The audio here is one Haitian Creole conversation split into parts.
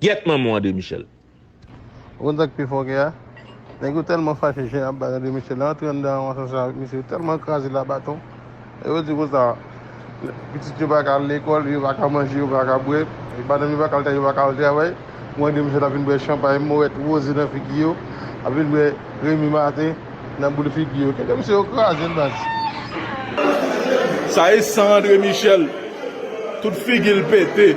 Gyèt manman w André Michel. Ou konn sak pi fò ke a? Nèg yo tèlman fache jan yap bat André Michel la antre anndan anvan sa sa avèk misye yo tèlman krazel a baton e yo di konsa pitit yo paka al lekòl yo paka manje yo paka bwè madanm yo paka al travay yo paka al travay pou André Michel ap vin bwè chanpay mowèt woze nan figi yo ap vin bwè Remy Martin nan boul figi yo kite misye yo krazel baz. Sa e san André Michel tout figil pete.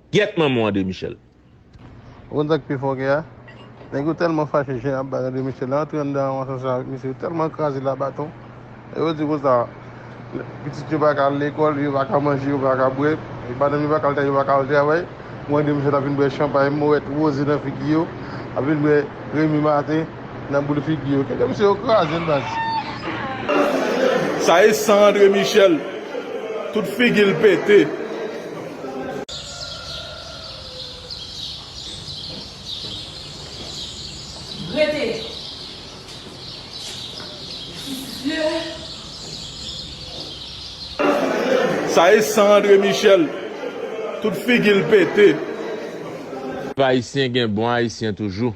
Gyèt manman w André Michel. Ou konn sak pi fò ke a? Nèg yo tèlman fache jan yap bay André Michel la yo antre anndan yon asansè avèk misye yo tèlman kraze l a baton e yo di konsa pitit yo paka al lekòl yo paka manje yo paka bwè e madanm yo paka al travay yo paka al travay bon André Michel ap vin bwè chanpay mouwèt woze nan figi yo ap vin bwè remi maten Nan boul figi yo. Kite misye yo krazel baz. Sa e san andre michel. Tout figil pete. Sa e san andre michel. Tout figil pete. Pèp ayisyen gen bon ayisyen toujou.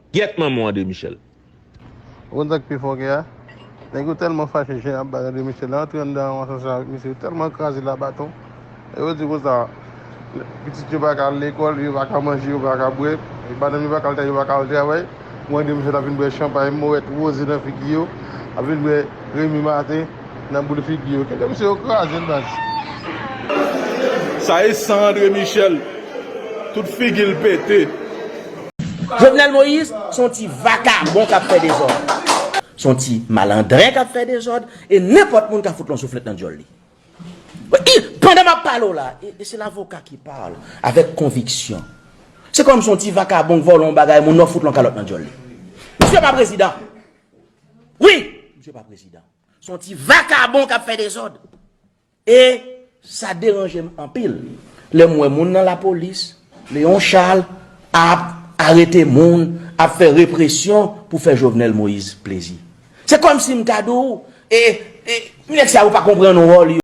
Gyèt manmanw André Michel. Ou konn sak pi fòkè a? Nèg yo tèlman fache jen ap bay André Michel la antre anndan yon asansè avèk misye yo tèlman kraze l a baton e yo di konsa pitit yo paka al lekòl yo paka manje yo paka bwè madanm yo paka al travay yo paka al travay pou André Michel ap vin bwè chanpay mowèt woze nan figi yo ap vin bwè remi maten Nan boul figi yo. Kenbe misye yo kraze l baz. Sa e san andre michel. Tout figil pete. Jovenel Moïse se yon ti vakabon kap fè dezòd. Se yon ti malandren kap fè dezòd e nenpòt moun ka fout l yon souflèt nan dyòl li. Pandan map pale w la, e se lavoka ki parle avèk konviksyon. Se kòmsi yon ti vakabon k vòlò yon bagay moun nan fout l yon kalòt nan dyòl li. Misye pa prezidan. Wi, misye pa prezidan. Son ti vakabon kap fè dezòd. E sa deranje m anpil. Lè m wè moun nan la polis, Leon Charles ap arete moun, ap fè represyon pou fè Jovenel Moïse plezi. Se kòm si m ta di w, e, e, nèg sa yo pa konprann wòl yo.